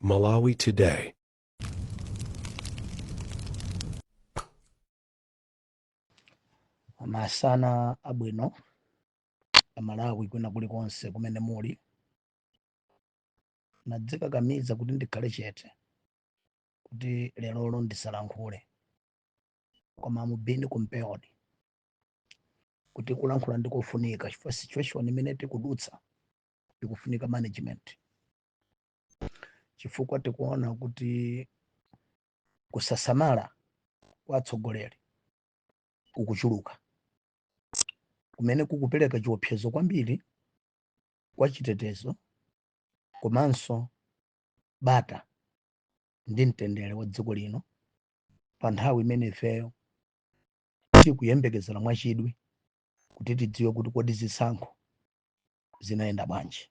Malawi Today. masana abwino amalawi kwina kulikonse kumene muli nadzikakamiza kuti ndikhale chete kuti lerolo ndisalankhule koma mubini kumpeodi kuti kulankhula ndikofunika chifukwa situation imene tikudutsa ikufunika management chifukwa tikuona kuti kusasamala kwa atsogoleri kukuchuluka kumene kukupereka chiopsezo kwambiri kwa chitetezo komanso bata ndi mtendere wa dziko lino pa nthawi imene ifeyo tikuyembekezera mwachidwi kuti tidziwe kuti kodi zisankho zinayenda bwanji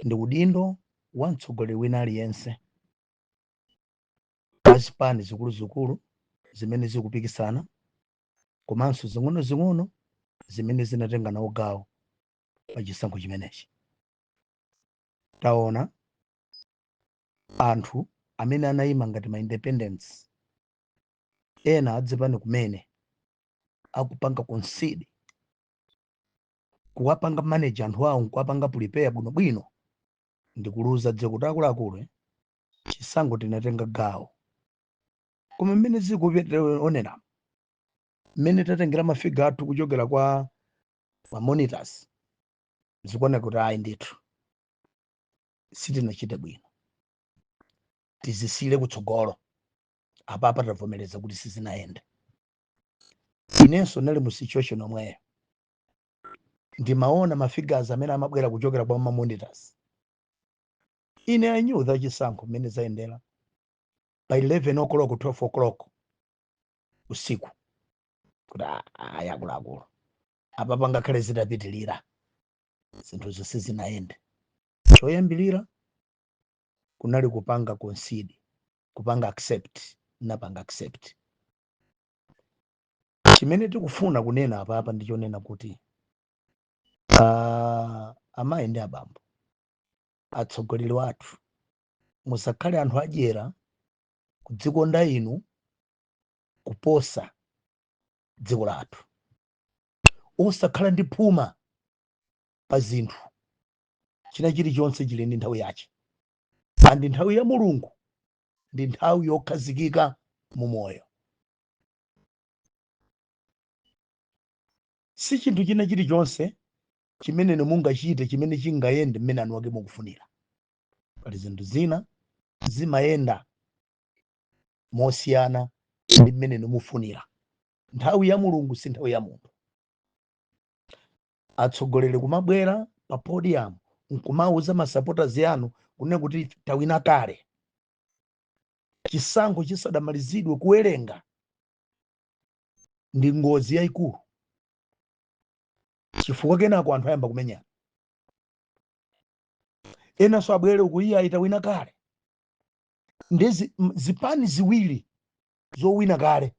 ndi udindo wa mtsogoleri wina aliyense wa zipani zikuluzikulu zimene zikupikisana komanso zing'onozing'ono zimene zinatenga nawo gawo pa chisankho chimenechi taona anthu amene anayima ngati ma independent ena azipani kumene akupanga concede kuwapanga manage anthu awo nkuwapanga prepare bwinobwino ndikuuza dziko kuti akuluakulu eh, chisankho tinatenga gawo koma mmene zikuonekera mmene tatengera mafiga athu kuchokera kwa mamonitors zikuoneka kuti ayi ndithu sitinachite bwino tizisiyire kutsogolo apapa tavomereza kuti sizinayende inenso nali mu situation omweyo ndimaona mafigures amene amabwera kuchokera kwa ma monitors ine i knew that chisankho mmene zayendera by 11 o'clock 12 o'clock usiku kuti "Ah, ayi akuluakulu apapa ngakhale zitapitirira zinthuzo sizinayende choyambirira kunali kupanga concede kupanga accept napanga accept chimene tikufuna kunena apapa ndi chonena kuti ah, amayi ndi abambo atsogoleri athu musakhale anthu adyera kudzikonda inu kuposa dziko lathu osakhala ndi phuma pa zinthu china chilichonse chili ndi nthawi yache andi nthawi ya mulungu ndi nthawi yokhazikika mu moyo si chinthu china chilichonse chimene inu mungachite chimene chingayende mmene eni ake mukufunira pali zinthu zina zimayenda mosiyana ndi mmene inu mukufunira nthawi ya mulungu si nthawi ya munthu atsogoleri kumabwera pa podium nkumauza masupporters anu kunena kuti tawina kale chisankho chisanamalizidwe kuwerenga ndi ngozi yayikulu chifukwa kenako anthu ayamba kumenyana enanso abwere uku iye ayi tawina kale nde zi- m- zipani ziwiri zowina kale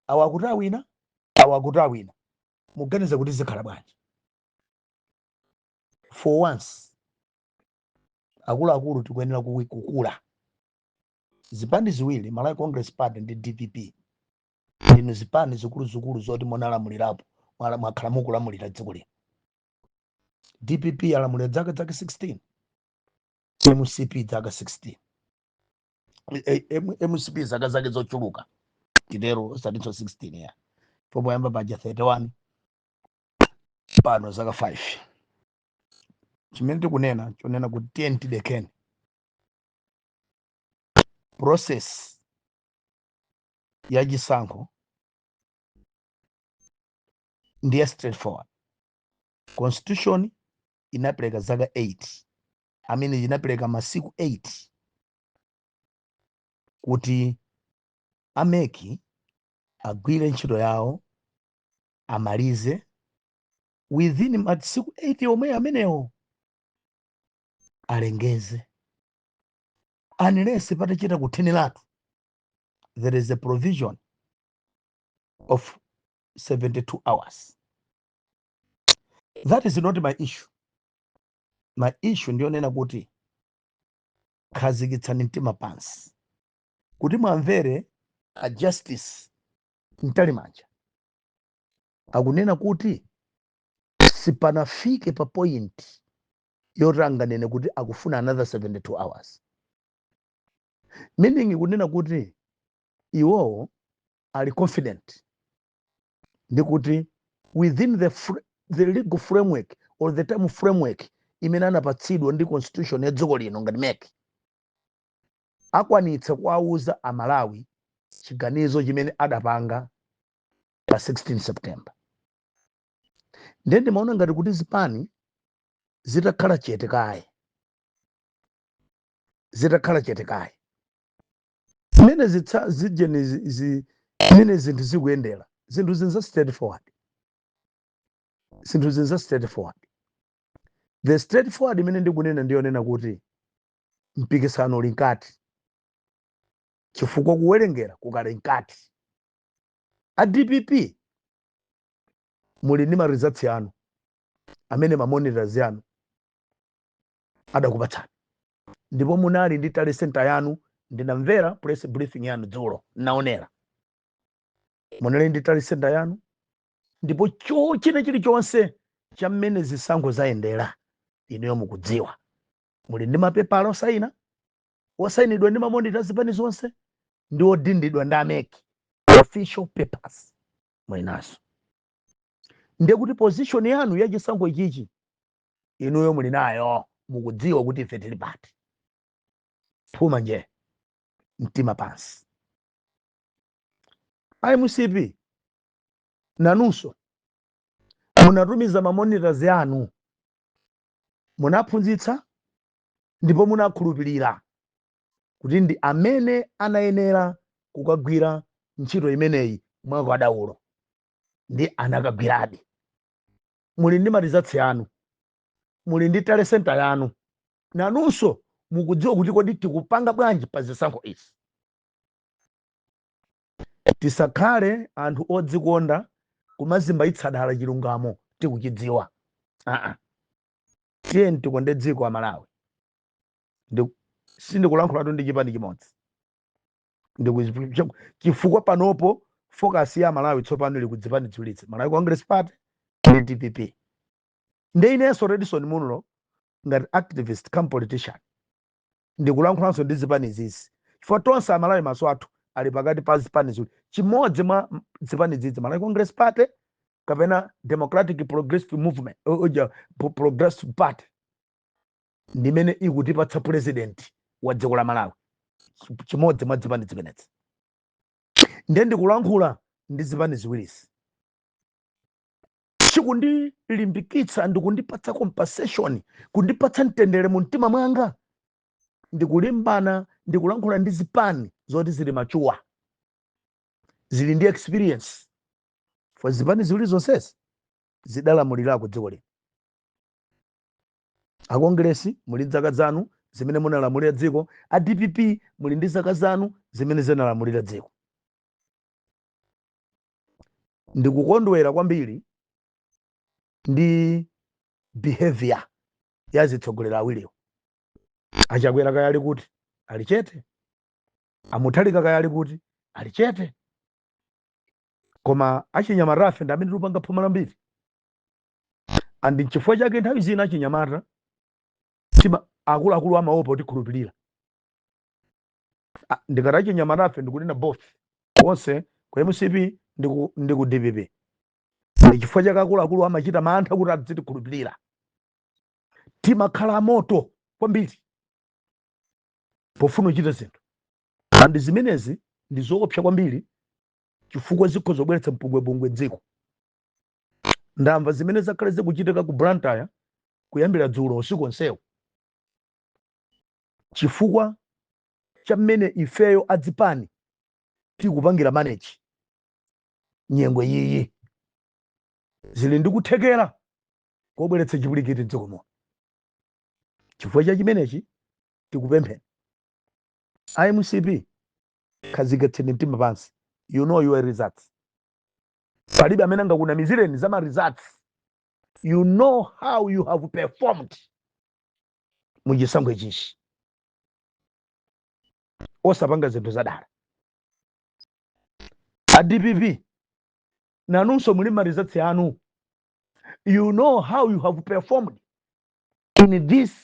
awa akuti awina awa akuti awina muganiza kuti zikhala bwanji for once akuluakulu tikuyenera kuwi- kukula zipani ziwiri malawi congress party ndi dpp ndinu zipani zikuluzikulu zoti munalamulirapo mwala- mwakhala mukulamulira dziko lino dpp yalamulira dzaka dzaka 16 mcp dzaka 16 eh, eh, mcp zaka zake zochuluka titero osatinso 16 ya poyamba paja 31 pano zaka 5 chimene tikunena nchonena kuti tiyeni tidekeni process ya chisankho ndi ya straightforward constitution inapereka zaka 8 I mean inapereka masiku 8 kuti a MEC agwire ntchito yawo amalize within masiku 8 omwe amenewo alengeze unless patachita kutheneratu there is a provision of 72 hours that is not my issue my issue ndi yonena kuti khazikitsani mtima pansi kuti mwamvere a justice mtalimanja akunena kuti sipanafike pa point yoti anganene kuti akufuna another 72 hours meaning kunena kuti iwowo ali confident ndi kuti within the, the legal framework or the time framework imene anapatsidwa ndi constitution ya dziko lino ngati mec akwanitsa kuwauza amalawi chiganizo chimene adapanga pa 16 september ndiye ndimaona ngati kuti zipani zitakhala, zitakhala chete kaye zimene zitsa- zijeni zi- zi- mmene zinthu zikuyendera zinthu zinza straightforward zinthu zinza straightforward the straightforward imene ndikunena ndiyonena kuti mpikisano uli mkati chifukwa kuwerengera kukali mkati a dpp muli ndi maresults yanu amene mamonitors yanu adakupatsani ndipo munali ndi tally center yanu ndinamvera press briefing yanu dzulo naonera munali ndi tally center yanu ndipo cho china chilichonse cha mmene zisankho zayendera inuyo mukudziwa muli ndi mapepala osayina osayinidwa ndi mamonita zipani zonse ndi odindidwa ndi a mec official papers muli nazo ndiye kuti position yanu ya chisankho ichichi inuyo muli nayo mukudziwa kuti ife tili pati phuma nje mtima pansi a mcp nanunso munatumiza mamonitors anu munaphunzitsa ndipo munakhulupirira kuti ndi amene anayenera kukagwira ntchito imeneyi mwakadaulo ndi anakagwiradi muli ndi maresults yanu muli ndi tally center yanu nanunso mukudziwa kuti kodi tikupanga bwanji pa zisankho izi tisakhale anthu odzikonda kumazimbayitsa dala chilungamo tikuchidziwa aa tiyeni tikonde dziko amalawi sindikulankhulatu ndi chipani chimodzi chifukwa panopo focus ya malawi tsopano ili ku zipani ziwirizi malawi congress party ndi dpp nde inenso redson munlo ngati activist cum politician ndikulankhulanso ndi zipani zizi chifukwa tonse amalawi maso athu ali pakati pa zipani ziwiri chimodzi mwa m- zipani zizi malawi congress party kapena democratic progressive movement uh, uh, ja- Pro- progressive party ndi imene ikutipatsa president wa dziko la malawi Ch- chimodzi mwa zipani zimenezi ndiye ndikulankhula ndi zipani ziwirizi chikundilimbikitsa ndikundipatsa compensation kundipatsa mtendere mu mtima mwanga ndikulimbana ndikulankhula ndi zipani zoti zili machuwa zili ndi experience for zipani ziwiri zonsezi zidalamulirako dziko lino akongresi muli ndi dzaka zanu zimene munalamulira dziko a dpp muli ndi zaka zanu zimene zinalamulira dziko ndikukondwera kwambiri ndi behavior ya zitsogoleri awiriwo achakwera kaya ali kuti ali chete amuthalika kaya ali kuti ali chete koma achinyamatafe ndi amene tikupanga phuma lambiri and nchifukwa chake nthawi zina achinyamata tima akuluakulu amaopa kutikhulupirira Ah, ndikati achinyamatafe ndikunena both onse ku mcp ndi ku- ndi ku dpp chifukwa chake akuluakulu amachita mantha kuti adzitikhulupirira timakhala amoto kwambiri pofuna kuchita zinthu and zimenezi ndi zoopsa kwambiri chifukwa zikhoza kubweretsa mpungwepungwe dziko ndamva zimene zakhale zikuchitika ku blantyre kuyambira dzulo usiku onsewu chifukwa cha mmene ifeyo adzipani tikupangira manage nyengo iyi zili ndi kuthekera kobweretsa chipwirikiti mdziko muno chifukwa cha chimenechi tikupempheni a mcp khazikitsani mtima pansi you know your results palibe amene angakunamizireni za ma results you know how you have performed mu chisankho ichichi osapanga zinthu zadala a dpp nanunso muli ma results anu you know how you have performed in these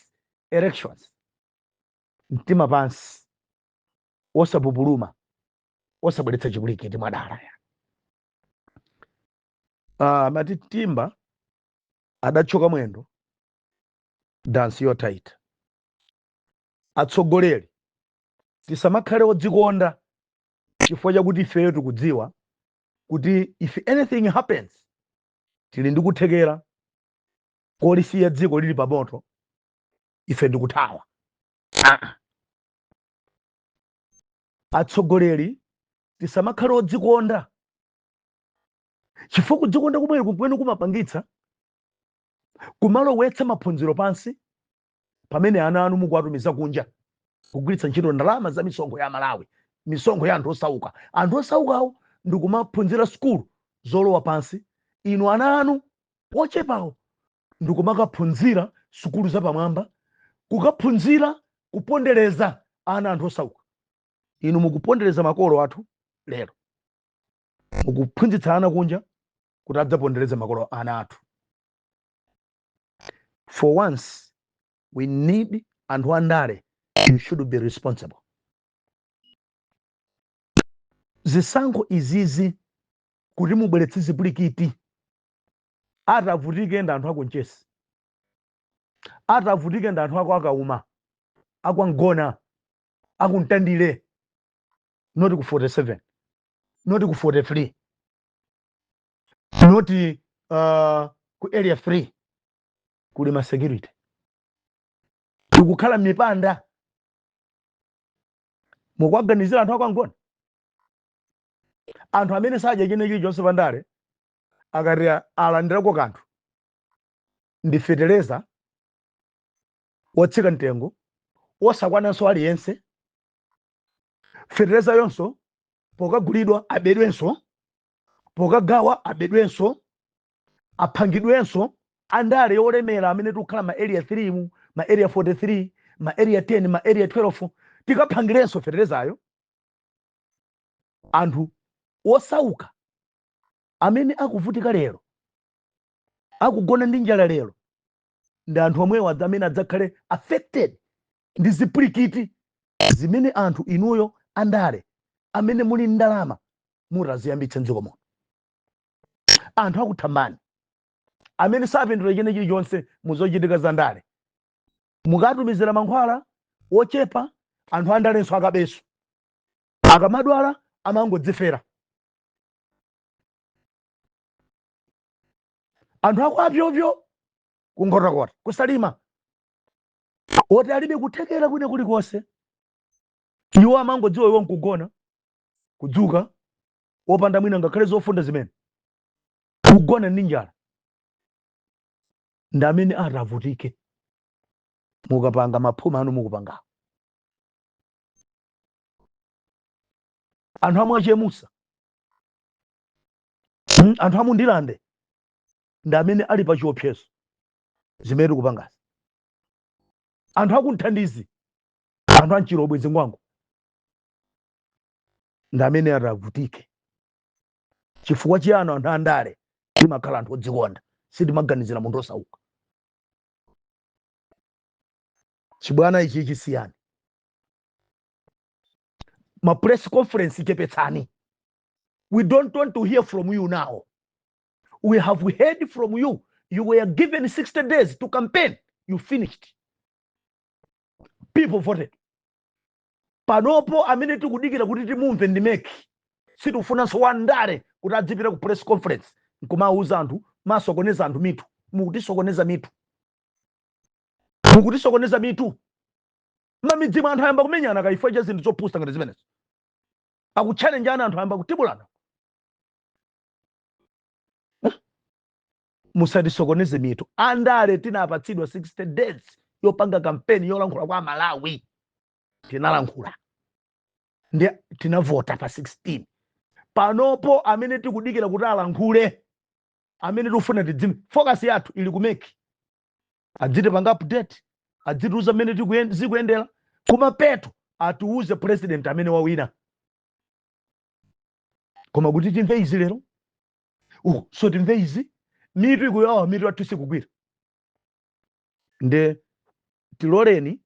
elections mtima pansi osapupuluma osabweretsa chipwirikiti mwadala ya ah, amati timba adathyoka mwendo dansi yotaita atsogoleri tisamakhale odzikonda chifukwa chakuti ifeyo tikudziwa kuti if anything happens tili ndi kuthekera kolisiya dziko lili pamoto ife ndikuthawa Ah, ah. atsogoleri tisamakhale odzikonda chifukwa kudzikonda kumeneku kumene kumapangitsa kumalowetsa maphunziro pansi pamene ana anu mukuwatumiza kunja kugwiritsa ntchito ndalama za misonkho ya amalawi misonkho ya anthu osauka anthu osaukawo ndikumaphunzira sukulu zolowa pansi inu ana anu ochepawo ndikumakaphunzira sukulu zapamwamba kukaphunzira kupondereza ana a anthu osauka inu mukupondereza makolo athu lero mukuphunzitsa ana kunja kuti adzapondereze makolo ana athu for once we need anthu andale you should be responsible zisankho izizi kuti mubweretse zipwirikiti atavutike ndi anthu a ku mchesi atavutike ndi anthu akwa kauma akwa mgona aku mtandire not ku 47 not ku 43 not uh, ku area 3 kuli ma security tikukhala m'mipanda mukuwaganizira anthu akwa mgona anthu amene sadya china chilichonse pandale akati a- alandirako kanthu ndi fetereza wotsika mtengo wosakwananso aliyense feterezayonso pokagulidwa abedwenso pokagawa abedwenso aphangidwenso andale olemera amene tikukhala ma area 3-mu ma area 43 ma area 10 ma area 12 tikaphangirenso feterezayo anthu osauka amene akuvutika lero akugona ndi njala lero ndi anthu omwewo adza- amene adzakhale affected ndi zipwirikiti zimene anthu inuyo andale amene muli ndi ndalama mutaziyambitse mdziko muno anthu akuthambani amene sapindula china chilichonse muzochitika za ndale mukatumizira mankhwala ochepa anthu andalenso akabenso akamadwala amangodzifera anthu akwa pyopyo kunkhotakota kusalima oti alibe kuthekera kwina kulikonse iwo amangodziwa iwo nkugona kudzuka wopanda mwina ngakhale zofunda zimene kugona ndi njala ndi amene atavutike mukapanga maphuma anu mukupangawo anthu amwe achemusa hmm? anthu a mu Ndirande ndi amene ali pa chiopsezo zimene tikupangazi anthu aku Mtandire anthu a mChilobwe Zingwangwa ndi amene atavutike chifukwa chiyani anthu andale timakhala anthu odzikonda sitimaganizira munthu wosauka Chibwana ichi chisiyeni. Ma press conference chepetsani. We don't want to hear from you now. We have heard from you. You were given 60 days to campaign. You finished. People voted. Panopo amene tikudikira kuti timumve ndi MEC. Sitifunanso wandale kuti adzipita ku press conference nkumauza anthu kumasokoneza anthu mitu mukutisokoneza mitu mukutisokoneza mitu mmamidzimu anthu ayamba kumenyana chifukwa cha zinthu zopusa ngati zimenezo akuchallengeana anthu ayamba kutibulana musatisokoneze mitu andale tinapatsidwa 60 days yopanga kampeni yolankhula kwa Amalawi tinalankhula ndi tinavota pa 16 panopo amene tikudikira kuti alankhule amene tikufuna tidzimva focus yathu ili ku MEC adzitipanga update adzitiuza mmene tikuyen- zikuyendera kumapeto atiuze president amene wawina koma kuti timve izi lero so timve izi mitu ikuwawa mitu yathuyi sikugwira nde tiloleni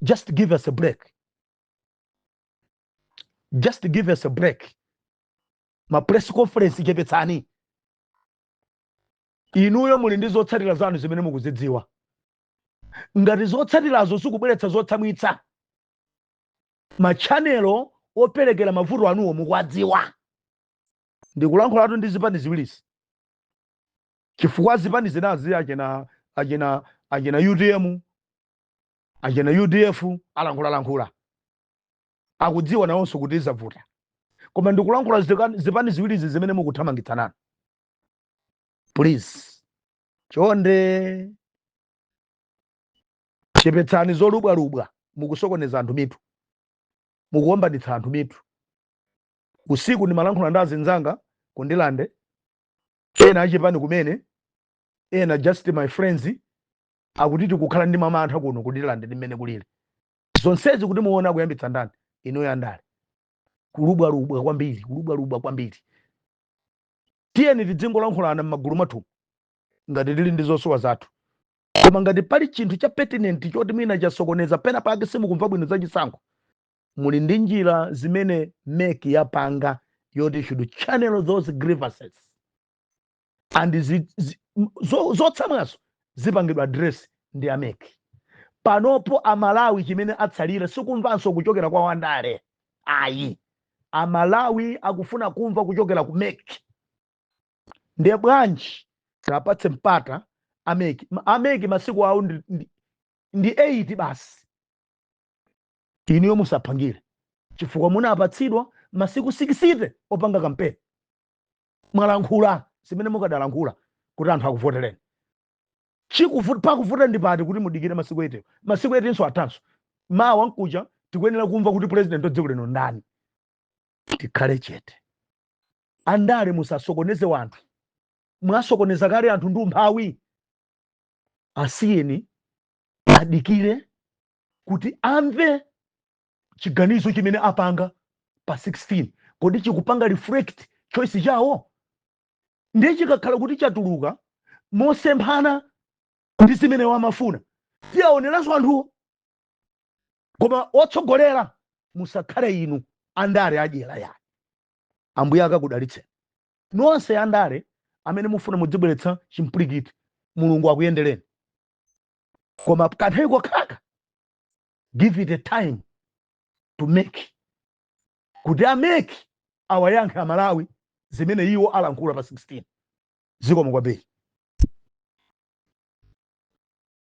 just give us a break just give us a break ma press conference chepetsani inuyo muli ndi zotsatira zanu zimene mukuzidziwa ngati zotsatirazo zikubweretsa zotsamwitsa machanelo operekera mavuto anuwo mukuwadziwa ndikulankhulatu ndi zipani ziwirizi chifukwa zipani zinazi achina achina achina utm achina udf alankhulalankhula akudziwa nawonso kuti zavuta koma ndikulankhula zika- zipani ziwirizi zimene mukuthamangitsananu please chonde chepetsani zolubwalubwa mukusokoneza anthu mitu mukuwombanitsa anthu mitu usiku ndimalankhula ndi azinzanga ku Ndirande ena achipani kumene ena just my friends akuti tikukhala ndi mamantha kuno ku Ndirande ndi mmene kulili zonsezi kuti muone akuyambitsa ndani inuyo andale kulubwalubwa kwambiri kulubwalubwa kwambiri tiyeni tidzingolankhulana m'magulu mwathumu ngati tili ndi zosowa zathu koma ngati pali chinthu cha pertinent choti mwina chasokoneza pena pake simukumva bwino za chisankho muli ndi njira zimene MEC yapanga yoti should channel those grievances and zi- zi- m- zo- zotsamwazo zipangidwa address ndi a MEC panopo amalawi chimene atsalira sikumvanso kuchokera kwa wandale ayi amalawi akufuna kumva kuchokera ku MEC ndiye bwanji tiapatse mpata a MEC Ma- a MEC masiku awo ndi, ndi, ndi 8 basi inuyo musaphangile chifukwa munapatsidwa masiku 60 opanga kampeni mwalankhula zimene mukadalankhula kuti anthu akuvotereni Chikuvut, pakuvuta ndi pati kuti mudikire masiku 8-wo? Masiku 8 nso athanso. Mawa mkuja tikuyenera kumva kuti president wa dziko lino ndani. Tikhale chete. Andale musasokoneze wanthu. Mwasokoneza kale anthu ndi umphawi. Asiyeni adikire kuti amve chiganizo chimene apanga pa 16. Kodi chikupanga reflect choice yawo? ndiye chikakhala kuti chatuluka mosemphana ndi zimene iwo amafuna tiwaoneranso anthuwo koma otsogolera musakhale inu andale adyera ayi ambuye akakudalitseni nonse andale amene mufuna mudzibweretsa chimpwirikiti mulungu akuyendereni koma kanthawi kokhaka give it a time to MEC kuti a mec awayankhe a Malawi zimene iwo alankhula pa 16. Zikomo kwambiri.